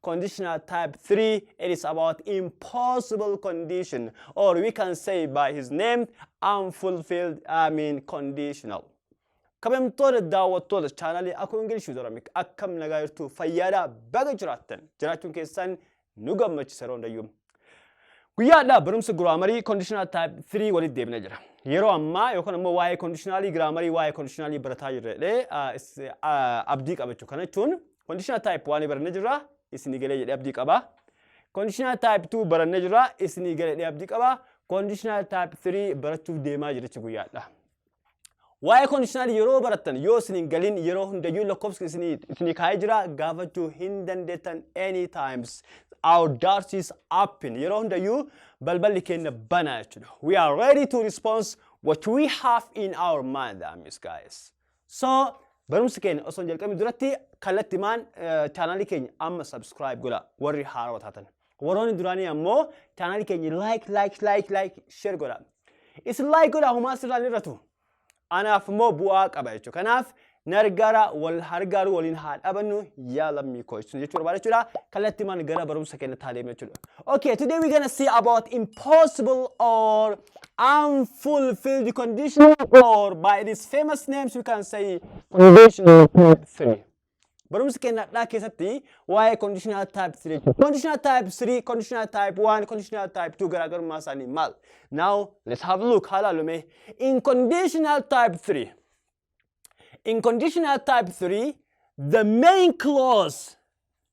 conditional type 3 it is about impossible condition or we can say by his name unfulfilled i mean conditional kabajamtoota daawwattoota chaanalii akuu ingilish yuutoramik akkam nagaa jirtu fayyaadhaa baga jiraattan jiraachuun keessan nu gammachisa yeroo hundayyuu guyyaadhaa barumsa giraamarii conditional type 3 walitti deebina jira yeroo ammaa yookaan ammoo waa'ee conditionalii giraamarii waa'ee conditionalii barataa jirredhe abdii qabachu kana jechuun Conditional type waan barannee jirra isinii galee jedhee abdii qaba. Conditional type 2 barannee jirra isinii galee jedhee abdii qaba. Conditional type 3 barachuuf deemaa jira jechuudha guyyaadha. Waa'ee conditional yeroo barattan yoo isin hin galin yeroo hundayyuu lakkoofsi isinii isinii kaa'ee jira gaafachuu hin dandeettan any times. Our doors is open. Yeroo hundayyuu balballi keenya banaa jechuudha. We are ready to respond what we have in our mind, that means guys. So barumsi keenya osoo hin jalqabin duratti kallattimaan chaanaalii keenya amma subscribe godha warri haarawa taatan. Warroonni duraanii ammoo chaanaalii keenya like like like like share godha. Isin like godha homaa sirraan irratu. Anaaf immoo bu'aa qaba jechuudha. Kanaaf nargaara wal hargaaru waliin haa dhabannu yaa lammii koo jechuudha jechuu barbaada jechuudha. Kallattimaan gara barumsa keenya taalee jechuudha. Okay, today we're gonna see about impossible or unfulfilled conditional or by its famous names we can say conditional type 3. Barumsa keenya har'aa keessatti waa'ee conditional type 3 jechuudha. Conditional type 3, conditional type 1, conditional type 2 garaagarummaa isaanii maal? Now let's have a look haa ilaallu mee. In conditional type 3. In conditional type 3, the main clause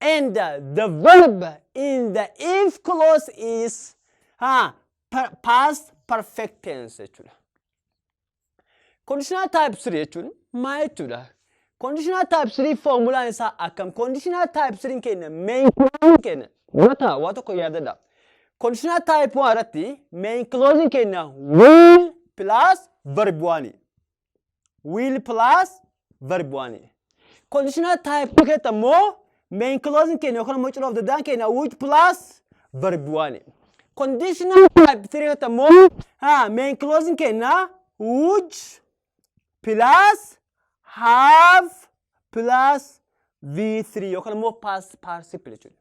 and uh, the verb in the if clause is ha, per, past perfect tense jechuudha. Conditional type 3 jechuun maa jechuudha? Conditional type 3 formulaan isaa akkam? Conditional type 3 keenya main clause keenya mata waa tokko yaadadha. Conditional type 1 irratti main clause keenya will plus verb 1. will plus verb one conditional type two keessa immoo main clause keenya yookaan immoo cira of danda'an keenya which plus verb one conditional type three keessa immoo ha main clause keenya which plus have plus V3 yookaan immoo past participle jechuudha.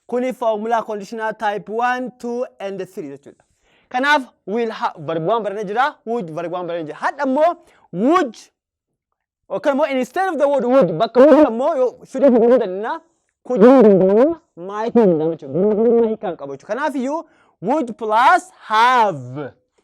Kuni formula conditional type 1, 2 and 3 jechuudha. Kanaaf will have verb 1 barannee jira, would verb 1 barannee jira. Hadha immoo would yookaan immoo instead of the word would bakka would immoo yoo should hin jedhu danna could hin danda'u might hin danda'u jechuudha. Might kan qabu jechuudha. Kanaaf iyyuu would plus have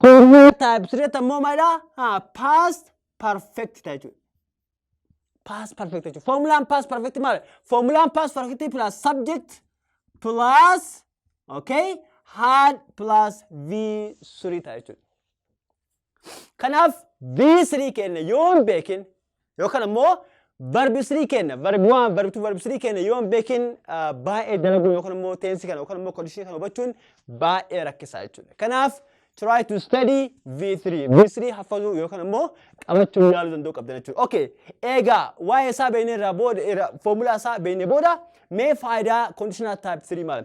Previous type sirreetti ammoo maalidha? Haa past perfect ta'a jechuudha. Past perfect jechuudha. Formulaan past perfect maal? Formulaan past perfect plus subject plus okay had plus v surii ta'a jechuudha. Kanaaf v surii keenya yoon beekin Yookaan ammoo verb 3 kenna. Verb 1, verb 2, verb 3 kenna yoo hin beekin ah, baay'ee dalaguun yookaan ammoo teensi kana yookaan ammoo condition kana hubachuun baay'ee rakkisaa jechuudha. Kanaaf try to study V3. V3 hafazuu yookaan ammoo qabachuu yaaluu danda'uu qabdan jechuudha. Okay. Eegaa waa'ee isaa beeknee irraa booda irra foomulaa isaa beeknee booda mee faayidaa conditional type 3 maal?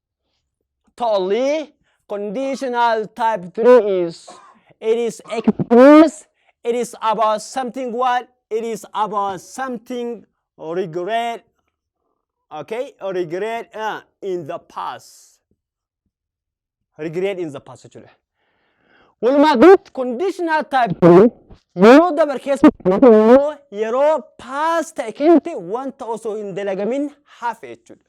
Tolly, conditional type 3 is it is expressed, it is about something what? It is about something regret, okay, regret uh, in the past. Regret in the past actually. Walumaa galatti conditional type 3 yeroo dabar keessa yeroo past ta'e keessatti wanta osoo hin dalagamin hafe jechuudha.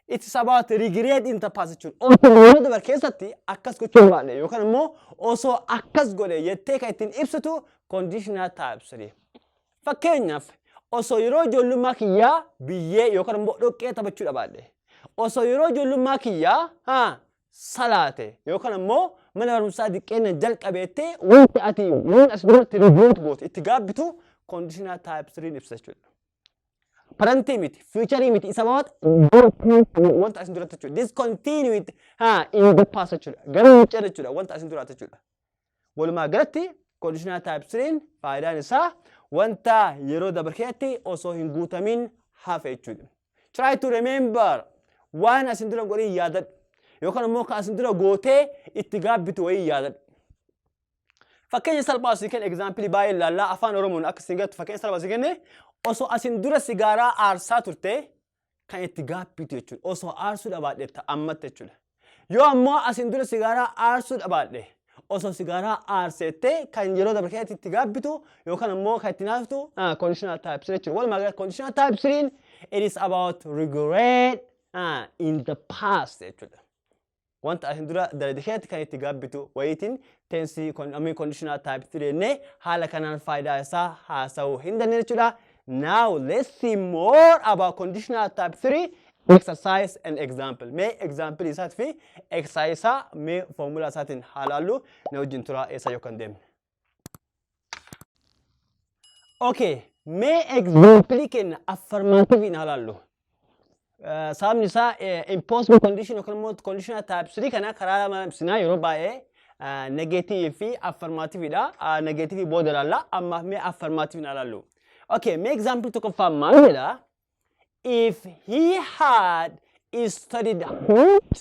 It's about regret in the past jechuun osoo yeroo dabar keessatti akkas gochuu baadhe yookaan immoo osoo akkas godhe jettee kan ittiin ibsitu conditional type 3. Fakkeenyaaf osoo yeroo ijoollummaa kiyyaa biyyee yookaan immoo dhoqqee taphachuu dhabaadhe osoo yeroo ijoollummaa kiyyaa haa salaate yookaan immoo mana barumsaa diqqeenna jalqabeettee wanti ati waan as duratti regret goote itti gaabbitu conditional type 3 ibsa jechuudha. Parantii miti, fiicharii miti, isa mawaat wanta asin duraatti jechuudha. Discontinuity haa in the past jechuudha. Garuu hin ceene jechuudha wanta asin duraatti jechuudha. Walumaa galatti conditional type 3 faayidaan isaa wanta yeroo dabre keessatti osoo hin guutamin hafe jechuudha. Try to remember waan asin dura godhin yaadadhu. Yookaan immoo kan asin dura gootee itti gaabbitu wayii yaadadhu. Fakkeenya salphaa si kenne egzaampilii baay'ee laallaa afaan Oromoon akka isin gattu fakkeenya salphaa si kenne osoo asin dura sigaaraa aarsaa turte kan itti gaabbiitu jechuudha. Osoo aarsuu dhabaadhe ta'a ammatti jechuudha. Yoo ammoo asin dura sigaaraa aarsuu dhabaadhe osoo sigaaraa aarseettee kan yeroo dabre keessatti itti gaabbitu yookaan ammoo kan itti naaftu conditional type 3 jechuudha. Walumaa galatti conditional type 3 it is about regret uh, in the past jechuudha. wanta asin dura dalade keessatti kan itti gaabbitu wayiitiin tensii amii kondishinaa taayip tireenne haala kanaan faayidaa isaa haasa'uu hin dandeenye jechuudha. Now let's see more about conditional type 3 exercise and example. Mee example isaat fi exercise isaa mee formula isaatiin haa laallu na wajjin turaa eessa yoo kan deemne. Okay, mee example kenna affirmative haa laallu. Eh, Sababni isaa eh, impossible condition yookiin immoo conditional type 3 kana karaa lama ibsinaa yeroo baay'ee eh, negative fi affirmative dha. Ah, Negative booda laalla ammaaf mee affirmative haa laallu. Okay, mee example tokkoffaa maal jedha? If he had studied hard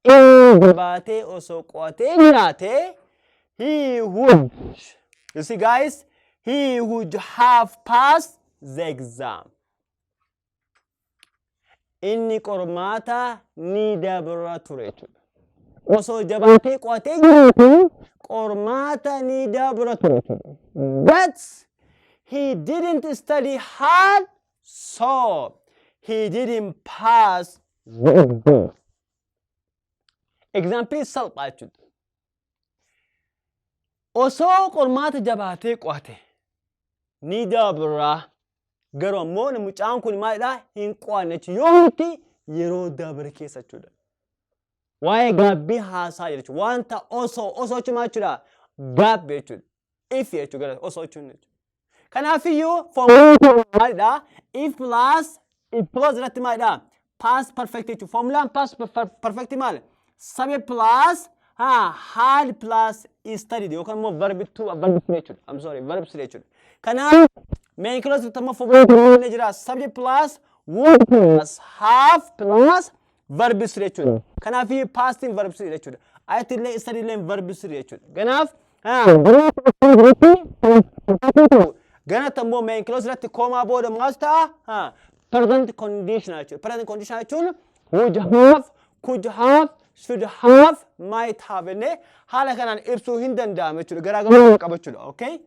Inni dibaatee osoo qo'atee nyaatee he would you see guys he would have passed the exam inni qormaata ni dabra ture jechuudha osoo jabaatee qo'atee nyaate qormaata ni dabra ture jechuudha but he didn't study hard So he didn't pass. Example salphaa jechuudha. Osoo qormaata jabaatee qo'ate ni dabra. Garuu ammoo mucaan kun maalidha hin qo'anne jechuudha. Yoo hundi yeroo dabre keessa jechuudha. Waa'ee gaabbii haasaa jira jechuudha. Wanta osoo osoo jechuun maal jechuudha? Gaabbii jechuudha. if jechuu gara osoo jechuun jechuudha. Kanaafiyyuu foomulaa maalidha? If plus if plus irratti maalidha? Past perfect jechuudha. Foomulaan past perfect maali? Sabe plus ha had plus studied yookaan immoo verb two verb three jechuudha. I'm sorry verb three jechuudha. Kanaaf main clause irratti immoo foomulaa maalidha jira? Subject plus would plus have plus verbs jechuudha. Kanaaf past in verbs jechuudha. Ayatti illee isa illee verbs jechuudha. Kanaaf ganatti ammoo main clause irratti koomaa booda maal ta'a? Present condition jechuudha. Present condition jechuun would have, could have, should have, might have jennee haala kanaan ibsuu hin danda'amu jechuudha. Garaagarummaa qaba jechuudha. Okay?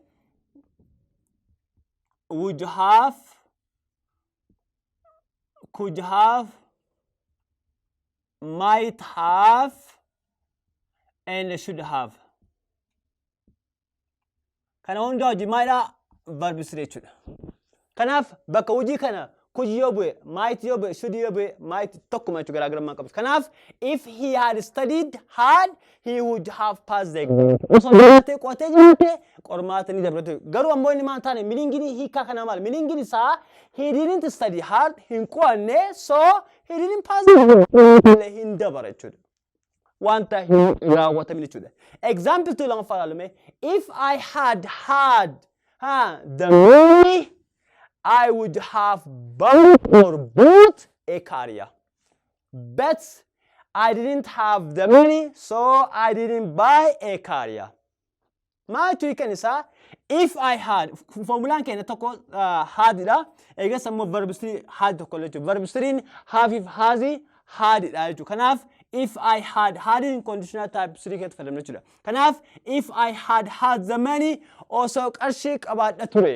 Would have, could have might have and should have kana hundaa hojii maalidha verb sire jechuudha kanaaf bakka hojii kana could yoo bu'e might yoo bu'e should yoo bu'e might tokkuma jechuudha garaagarummaa qabus kanaaf if he had studied hard he would have passed the exam. Osoo jiraatee qo'atee jiraate qormaata ni dabre ture. Garuu ammoo inni maal taane miliingini hiikaa kanaa maal miliingini isaa he didn't study hard hin qo'anne so he didn't pass the exam. Qormaata hin dabare jechuudha. Wanta hin raawwatamin jechuudha. Example 2 lammaffaa ilaalume if I had had ha, the money I would have bought or bought a career. But I didn't have the money so I didn't buy a car yeah. Maaltu hiikan isaa if I had formulaan keenya tokko uh, hadidha eegas ammoo verb 3 had tokko jechuudha verb 3 have if hazi hadidha jechuudha kanaaf if I had had in conditional type 3 keessatti fayyadamna jechuudha kanaaf if I had had the money osoo qarshii qabaadha ture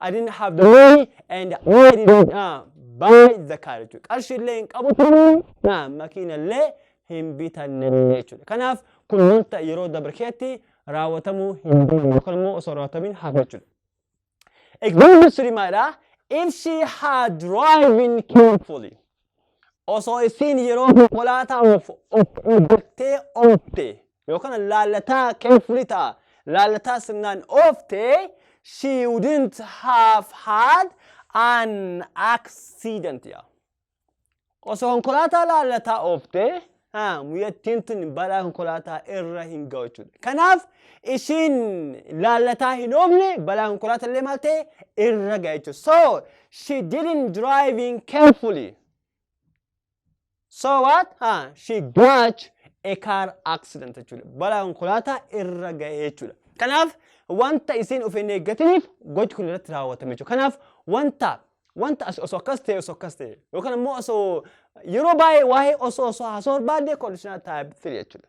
I didn't have the money and I didn't uh, buy the car jechuudha. Qarshii illee hin qabu turuu uh, makiina illee hin bitanne jechuudha. Kanaaf kun wanta yeroo dabre keessatti raawwatamuu hin dandeenye yookaan immoo osoo raawwatamin hafe jechuudha. Example three maalidha? If she had driving carefully. Osoo isiin yeroo konkolaataa of of eeggattee oofte yookaan laallataa carefully ta'a. Laallataa sirnaan oofte she wouldn't have had an accident yaa. Osoo konkolaataa laallataa oofte haa, muyyattiin tun balaa konkolaataa irra hin ga'u jechuudha. Kanaaf ishiin laallataa hin oofne balaa konkolaataa illee maal ta'e irra ga'e jechuudha. So she didn't driving carefully. So what? Ha, she got a car accident jechuudha. Balaa konkolaataa irra ga'ee jechuudha. Kanaaf wanta isiin of hin eeggatiniif gochi kun irratti raawwatame jechuudha. Kanaaf wanta wanta as- osoo akkas ta'e osoo akkas ta'e yookaan immoo osoo yeroo baay'ee waa'ee osoo osoo haasoo barbaadde conditional type 3 jechuudha.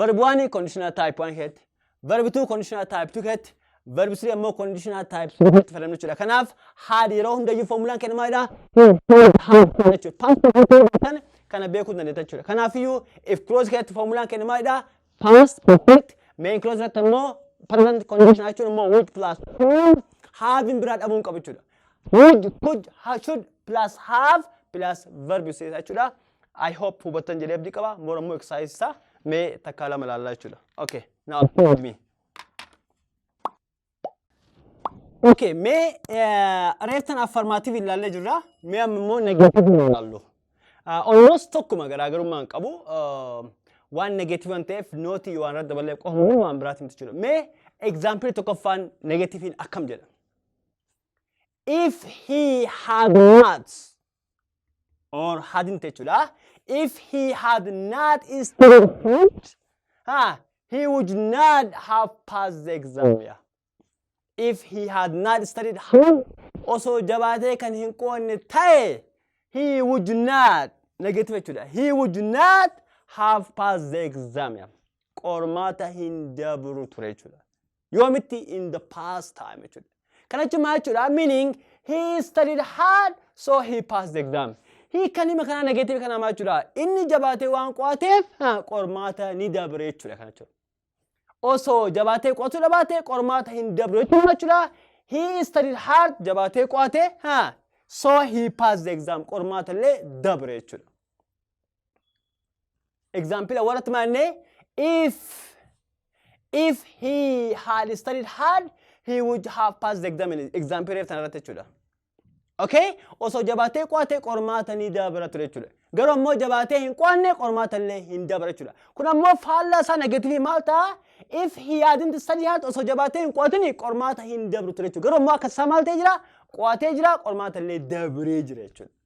Verb 1 conditional type 1 keessatti, verb 2 conditional type 2 keessatti, verb 3 ammoo conditional type 3 keessatti fayyadamnu jechuudha. Kanaaf haadhi yeroo hundayyuu formulaan kenna maalidha? jechuudha. Past perfect keessan kana beekuu dandeetta jechuudha. Kanaafiyyuu if clause keessatti formulaan kenna maalidha? Past perfect main clause irratti ammoo present condition jechuun ammoo would plus could having biraa dhabuu hin qabu jechuudha. Would, could, ha- should plus have plus verb seeta jechuudha. I hope hubattan jedhee abdii qaba. Bor ammoo exercise isaa mee takkaa lama ilaallaa jechuudha. Okay, now play with me. Okay, mee eh, reeftan affirmative ilaallee jirra. Mee amma immoo negative nu ilaallu. Ah, Almost tokkuma garaagarummaa hin qabu. Ah, Waan negative waan ta'eef nooti yoo waan irratti daballee qofa malee waan biraati miti jechuudha. Mee example tokkoffaan negativein akkam jedha? If he had not or hadn't jechuudha. If he had not studied hard, ha, he would not have passed the exam. Yeah. If he had not studied hard, osoo jabaatee kan hin qoonne ta'e, he would not, negative jechuudha. He would not have passed the exam. Yeah. Qormaata hin dabru ture jechuudha. Yoomitti in the past time jechuudha. Kana jechuun maal jechuudha? Meaning he studied hard so he passed the exam. Hiikan hima kanaa negative kanaa maal jechuudha? Inni jabaatee waan qo'ateef ha, qormaata ni dabre jechuudha kana jechuudha. Osoo jabaatee qo'atuu dhabaate qormaata hin dabru jechuudha maal jechuudha? He studied hard jabaatee qo'ate ha, so he passed the exam qormaata illee dabre jechuudha. Example warratti maannee if if he had studied hard he would have passed the exam. Example reef sana irratti jechuudha. Okay? Osoo jabaatee qo'ate qormaata ni dabara ture jechuudha. Garuu ammoo jabaatee hin qo'anne qormaata illee hin dabara jechuudha. Kun ammoo faallaa isaa negatiivii maal ta'a? If he hadn't studied hard osoo jabaatee hin qo'atin qormaata hin dabru ture jechuudha. Garuu ammoo akka isaa maal ta'ee jira? Qo'atee jira qormaata illee dabree jira jechuudha.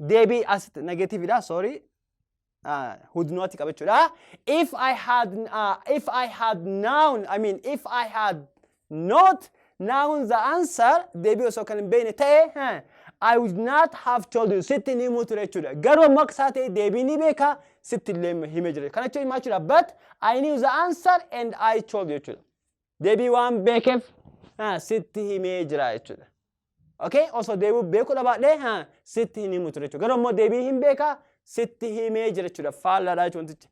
deebii as negative dha sorry uh, hudnooti qabachuudha if I had uh, if I had known I mean if I had not known the answer deebii osoo kan hin beekne ta'e huh, I would not have told you sitti ni himu ture jechuudha garuu amma akka isaa ta'e deebii ni beeka sitti illee hime jira kana jechuun himaa jechuudha but I knew the answer and I told you jechuudha deebii waan beekeef haa sitti himee jira jechuudha. Okay? Osoo deebi'u beekuu dhabaadhee haa sitti hin himu ture jechuudha. Garuu immoo deebii hin beekaa sitti himee jira jechuudha. Faallaadha jechuudha wantichi.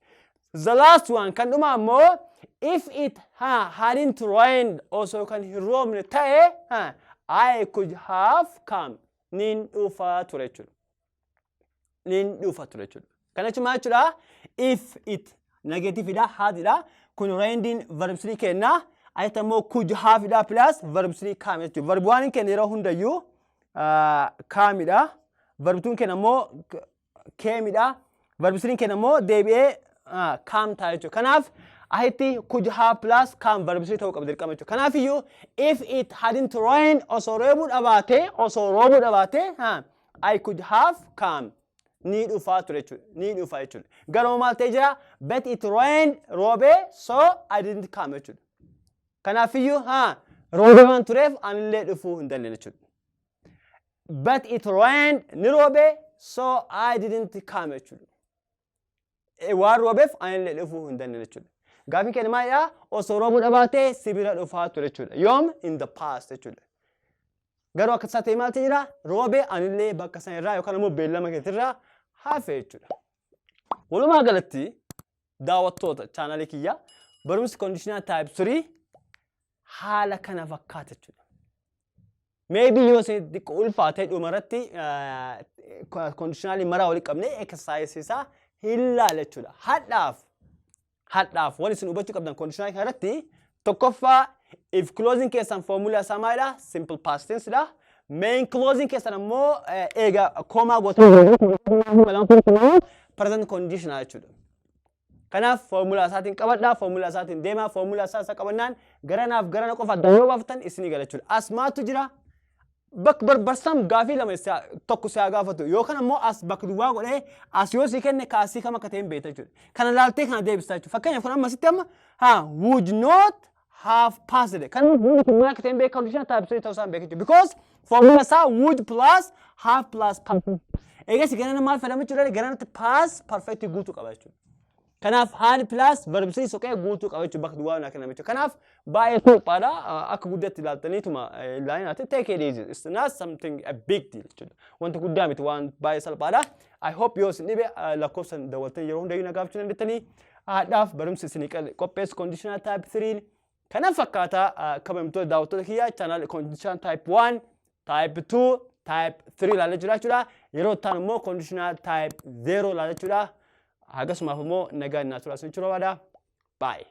The last one kan dhumaa immoo if it haa hadn't rained osoo kan hin roobne ta'e haa I could have come niin dhufaa ture jechuudha. nin dhufa ture jechuudha. Kana jechuun maal jechuudha? If it negativeidha haadidha. Kun reendiin verb 3 kenna. Asitti ammoo kuj haafidha plus verb 3 kaam jechuudha. Verb 1 kenna yeroo hundayyuu kaamidha. Verb 2 kenna ammoo keemidha. Verb 3 kenna ammoo deebi'ee kaam ta'a jechuudha. Kanaaf asitti kuj haaf plus kaam verb 3 ta'uu qaba dirqama jechuudha. Kanaafiyyuu if it hadn't rained osoo reebuu dhabaatee osoo roobuu dhabaatee I could have come. Ni dhufaa ture jechuudha. Ni dhufaa jechuudha. Garuu maal ta'ee jira? But it rained roobee so I didn't come jechuudha. Kanaafiyyuu haa roobee waan tureef anillee dhufuu hin dandeenye jechuudha. But it rained ni roobee so I didn't come jechuudha. waan roobeef anillee dhufuu hin dandeenye jechuudha. Gaafiin keenya maalidha? Osoo roobuu dhabaatee si bira dhufaa ture jechuudha. Yoom in the past jechuudha. Garuu akka isaa ta'e maaltu jira? Roobee anillee bakka sana irraa yookaan immoo beellama keetirraa hafe jechuudha. Walumaa galatti daawwattoota chaanalii kiyyaa barumsi kondiishinaa taayip 3 haala kana fakkaata jechuudha. Maybe yoo isin xiqqoo ulfaate dhumarratti kondishinaalii maraa walitti qabnee exercise isaa hin laala jechuudha. Hadhaaf hadhaaf wal isin hubachuu qabdan kondishinaalii kanarratti tokkoffaa if closing keessan foomulaa isaa maalidha? Simple past tense dha. Main closing keessan ammoo eega koomaa gootan present condition jechuudha. Kanaaf foormulaa isaatiin qabadhaa, foormulaa isaatiin deemaa, foormulaa isaa isa qabannaan garanaaf garana qofa adda yoo baaftan isinii gala jechuudha. As maaltu jira? Bak barbarsam gaafii lama isaa- tokko si haa gaafatu yookaan ammoo as bakka duwwaa godhee as yoo si kenne ka asii kam akka ta'e hin beekta jechuudha. Kana laaltee kana deebistaa jechuudha. Fakkeenyaaf kun amma sitti amma haa would not have passed kan hundi kun maal akka ta'e hin beeku conditional type 3 ta'uu isaa hin beeku jechuudha because formula isaa would plus have plus passed eegas ganana maal fayyadama jechuudha gananatti pass perfect guutuu qaba jechuudha kanaaf haal plus verb 3 soqee guutuu qaba jechuudha bakka duwwaa naa kenname jechuudha kanaaf baay'ee salphaadha akka guddatti ilaaltaniituma ilaalinaa ta'e take it easy it's not something a big deal jechuudha wanta guddaa miti waan baay'ee salphaadha I hope yoo isin dhibe ah, lakkoofsan dawwaltanii yeroo hundayyuu na gaafachuu dandeettanii haadhaaf barumsi isinii qal- qopheessu conditional type 3 kana fakkaataa ah, kabajamtoota daawwattoota kiyyaa channel conditional type 1 type 2 type 3 ilaalee jira jechuudha yeroo itti aanu immoo conditional type 0 ilaala jechuudha hagasumaaf immoo nagaan naa turaa isin jechuu barbaada baay'ee